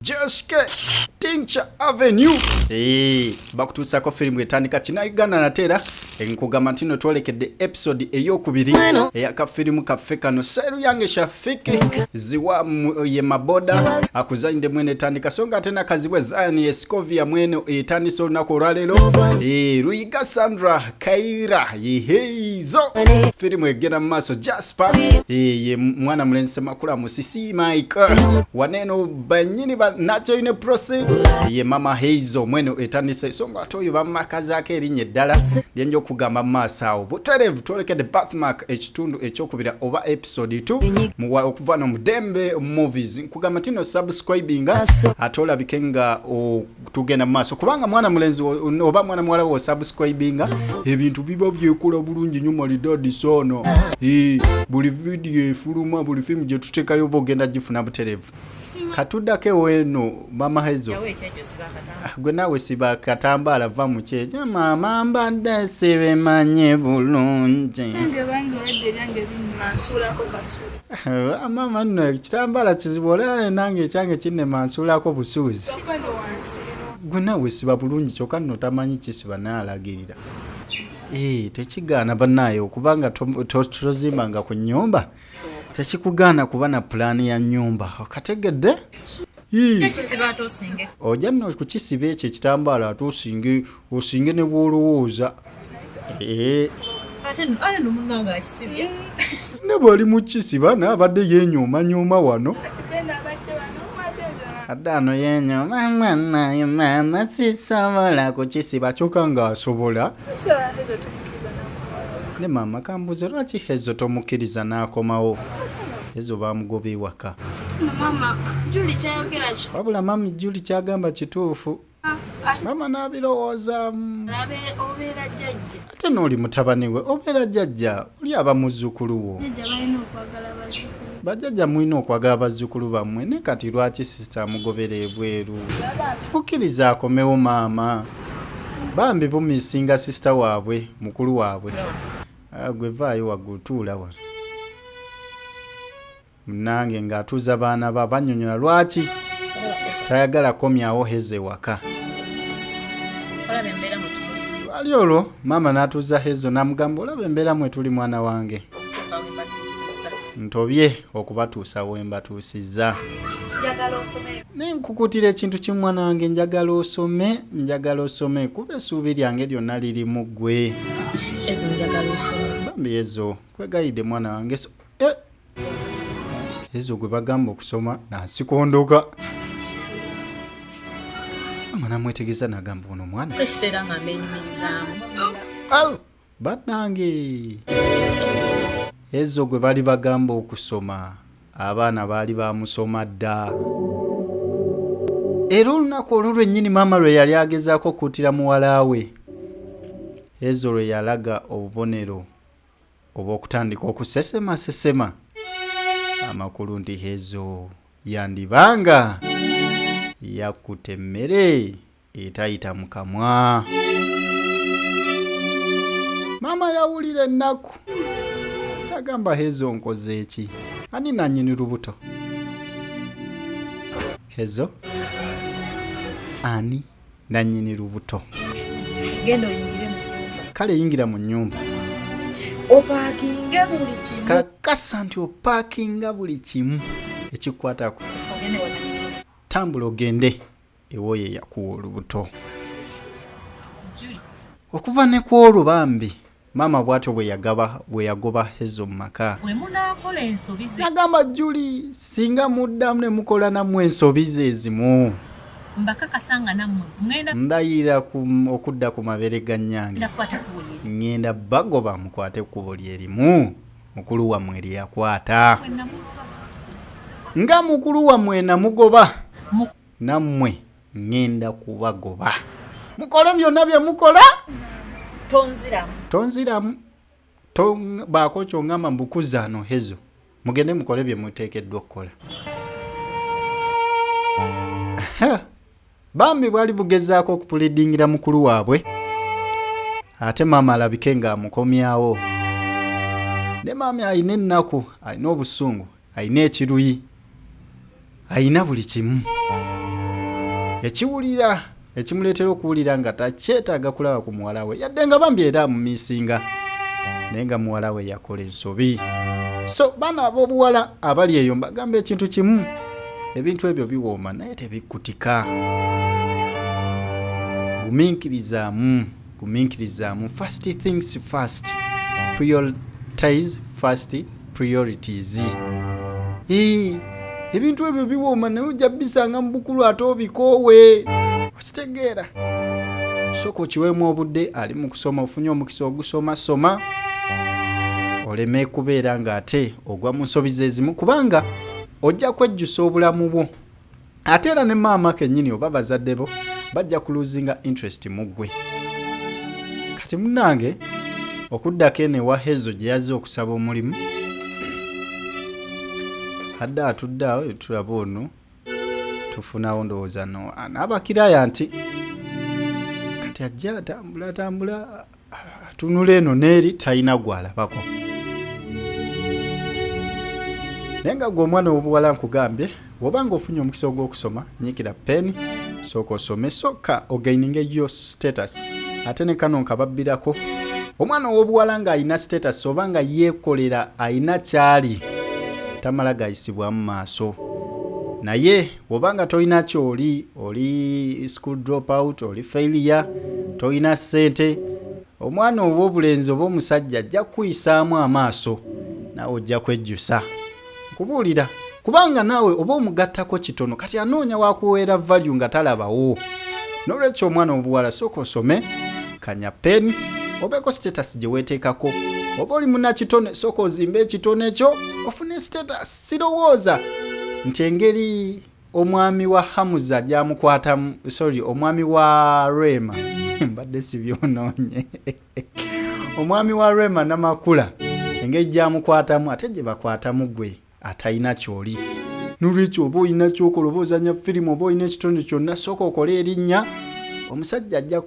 JSK Tincha Avenue hey, bakutuusako firimu etandika kina Uganda nate era nkugamba nti no twolekedde episode eyokubiri eyakafirimu kaffe kano seru yange shafiki ziwa ye maboda akuzanyidde mwene etandika so nga ate nakazibwe zion escovia mwene etandise olunaku olwaleero hey, eh, luyiga sandra Kaira yiheizo firimu egenda mu maaso Jasper ye mwana mulenzi Semakula Musisi Mike waneno banyini ba Nacho ne Prosi ye mama Heizo mweno etandise so nga atoyo bamakazaako erinnya eddala lyenja okugamba mu maaso awo buterevu twolekede birthmark ekitundu ekyokubira oba episode 2 muwa okuva no mudembe movies nkugamba tino subscribinga ate olabike nga tugenda mu maaso kubanga mwana mulenzi oba mwana muwala wo subscribinga ebintu biba byekola bulungi nyo malidadi sono e, buli vidiyo efuluma buli fimu gyetutekayo oba ogenda gifuna buterevu katuddako eno mama hezo ah, gwe naawe siba katambaala va mukyeja mama mbadde sibemanye bulungi Ah, maama nno ekitambaala kizibu olaba nange ekyange kinnema nsuulako busuuzi gwe nawe siba bulungi kyokka nno tamanyi kisiba naye alagirira ee eh, tekigaana banaye okuba nga tozimbanga ku nyumba tekikugaana kuba na pulaani ya nyumba okategedde ojja nno kukisiba ekyo ekitambaala ate osinge osinge ne bwolowooza eh. ne bwali mukisi bana abadde yenyoomanyoma wano adano yenyo mama naye mama sisobola kukisiba kyoka nga asobola ne mama kambuze lwaki hezo tomukiriza nakomawo ezo bamugoba ewaka wabula mami juli kyagamba kituufu mama nabirowoozaamu ate nooli mutabani we obeera jajja oli aba muzzukulu wo bajajja mulina okwagala bazzukulu bammwe ne kati lwaki sisita amugobera ebweru mukkiriza akomewo maama bambi bumisinga sisita waabwe mukulu waabwe ah, gwe vaayo waggutuula wano munange ng'atuuza baana ba banyonyola lwaki tayagala komyawo heza ewaka lwali olwo maama n'atuuza hezo n'amugamba olaba embeera mwe tuli mwana wange ntobye okubatuusa we mbatuusizza naye nkukutira ekintu kimu mwana wange njagala osome njagala osome kuba essuubi lyange lyonna lirimu ggwe bambi ezo kwegayidde mwana wange eh, ezo gwe bagamba okusoma nasikondoka mama namwetegeza nagamba ono omwana ekiseera nga menyumirizamu banange ezo gwe bali bagamba okusoma abaana baali bamusoma dda era olunaku olwo lwennyini maama lwe yali agezaako okuutira muwala we ezo lwe yalaga obubonero oba okutandika okusesema sesema amakulu nti hezo yandibanga yakutte emmere etayita mu kamwa maama yawulira ennaku yagamba hezo nkoze eki ani nanyini lubuto hezo ani nannyini lubuto genda oyingire mu nyumba kale yingira mu nyumba opakinge buli kimu kakasa nti opakinga buli kimu ekikwatako tambula ogende ewoyo eyakuwa olubuto okuva ne ku olwo bambi maama bwatyo bwe yagaba bwe yagoba ezo mu maka bwe munaakola ensobi ze nagamba juli singa muddamu ne mukola nammwe ensobi ze ezimu mbakakasa nga nammwe ŋenda ndayira okudda ku mabere ga nnyange ŋenda bagoba mukwate ekkubo lye limu mukulu wammwe lye yakwata nga mukulu wammwe namugoba nammwe ŋŋenda kubagoba mukole byonna bye mukola tonziramu tonziramu baako kyongamba mbukuzaano hezo mugende mukole bye muteekeddwa okukola bambi bwali bugezaako okupulidingira mukulu waabwe ate maama alabike ng'amukomyawo ne maami alina ennaku alina obusungu alina ekiruyi alina buli kimu ekiwulira ekimuleetera okuwulira nga takyetaaga kulaba ku muwala we yadde nga bambi era amumisinga naye nga muwala we yakola ensobi so baana ab'obuwala abali eyo mbagamba ekintu kimu ebintu ebyo biwooma naye tebikkutika gumiikirizaamu gumiikirizaamu first things first prioritize first priorities ee ebintu ebyo biwooma naye ojja bisanga mu bukulu ate obikoowe okitegeera sooka okiweemu obudde ali mu kusoma ofunye omukisa ogusoma soma oleme kubeera ng'ate ogwa mu nsobi zezimu kubanga ojja kwejjusa obulamu bwo ate era ne maama kenyini oba bazadde bo bajja kuluzinga interest mu ggwe kati munange okuddako eno ewa hezo gye yazze okusaba omulimu adde atudde awo tulaba ono tufunawo ndowooza no anaabakiraya nti kati ajja atambula atambula atunula eno neeri talina gwalabako naye nga gwe omwana wobuwala nkugambye woba nga ofunye omukisa ogwokusoma nyikira peni sooka osome sooka ogaininge yo status ate ne kano nkababbirako omwana owobuwala nga alina status oba nga yeekolera alina kyali tamala gayisibwamu maaso naye bwoba nga tolina kyoli oli school drop out oli failure tolina ssente omwana oba obulenzi oba omusajja ajja kukuyisaamu amaaso naawe ojja kwejjusa nkubuulira kubanga naawe oba omugattako kitono kati anoonya wakuweera value nga talabawo n'olwekyo omwana obuwala sooka osome kanya pen obeeko status gye weeteekako oba oli munakitone sooka ozimba ekitone kyo ofune status sirowooza nti engeri omwami wa hamuza gyamukwatamu sorry omwami wa rema mbadde sibyonoonye omwami wa rema namakula engeri gyamukwatamu ate gye bakwatamu gwe atalina kyoli nolwekyo oba olina kyokola oba ozanya firimu oba olina ekitonde kyonna sooka okole erinnya omusajja ajja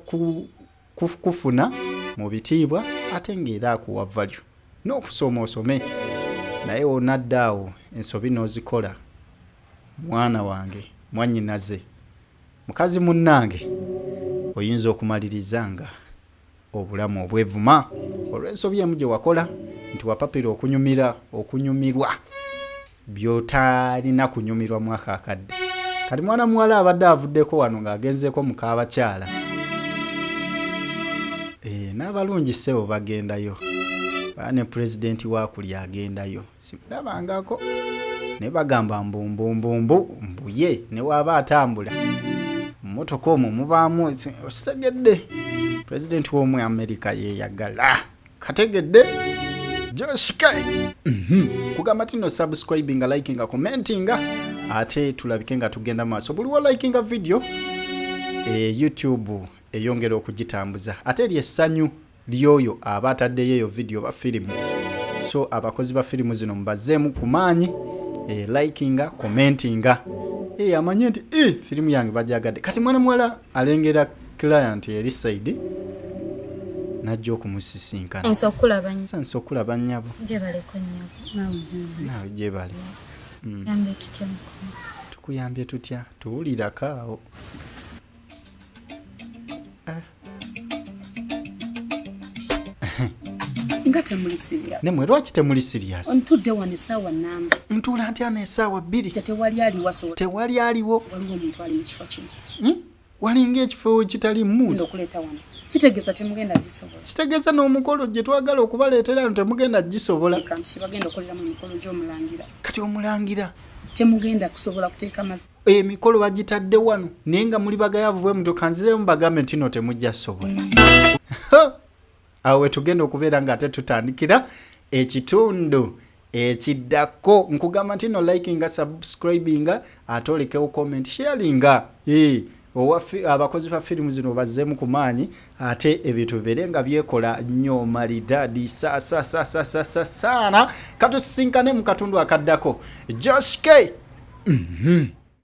kufuna mu bitiibwa ate ngaera akuwa valyo n'okusoma osome naye onadda awo ensobi n'ozikola mwana wange mwanyinaze mukazi munnange oyinza okumaliriza nga obulamu obwevuma olw'ensobi emu gye wakola nti wapapira okunyumira okunyumirwa by'otalina kunyumirwa mwaka akadde kati mwana muwala abadde avuddeko wano ng'agenzeeko mu kaabakyala eh, n'abalungi ssebo bagendayo ne pulezidenti waakuli agendayo simulabangako naye bagamba mbumbumbu mbuye newaaba atambula mumotoka omwo mubaamu okitegedde pulezidenti w'omu amerika yeyagala kategedde joshika mhm. kugamba tino subscribinga likinga commentinga ate tulabike nga tugenda maaso buliwo likinga video e, youtube eyongera okugitambuza ate eri essanyu ly'oyo aba ataddeyo eyo vidiyo ba firimu so abakozi ba firimu zino mubazeemu ku maanyi e, likinga commentinga e, amanye nti e, firimu yange bajagadde kati mwana muwala alengera client eri saidi najja okumusisinkana okulaba nyabo nawe gyebale hmm. tukuyambye tutya tuwulirako awo eh. nga temuli serious nemwe lwaki temuli serious ntudde wano esaawa namba ntuula ntya na esaawa bbiri tewali aliwo asobola tewali aliwo waliwo omuntu ali mu kifo kino hmm? walinga ekifo kitali mundo okuleeta wano kitegeeza temugenda gisobola kitegeeza n'omukolo gye twagala okubaleetera no temugenda gisobola kibagenda okoleramu emikolo gy'omulangira kati omulangira temugenda kusobola kuteeka mazi emikolo bagitadde wano naye nga muli bagayavu bwe mutyo kanziremu bagambe nti no temujja sobola awo wetugenda okubeera nga ate tutandikira ekitundu ekiddako nkugamba nti no likinga subscribinga ate olekewo comment sharinga eh, abakozi ba firimu zino bazzemu ku maanyi ate ebintu bibeere nga byekola nnyo malidadi sasasasasasaana katusinkane mu katundu akaddako josh k mm -hmm.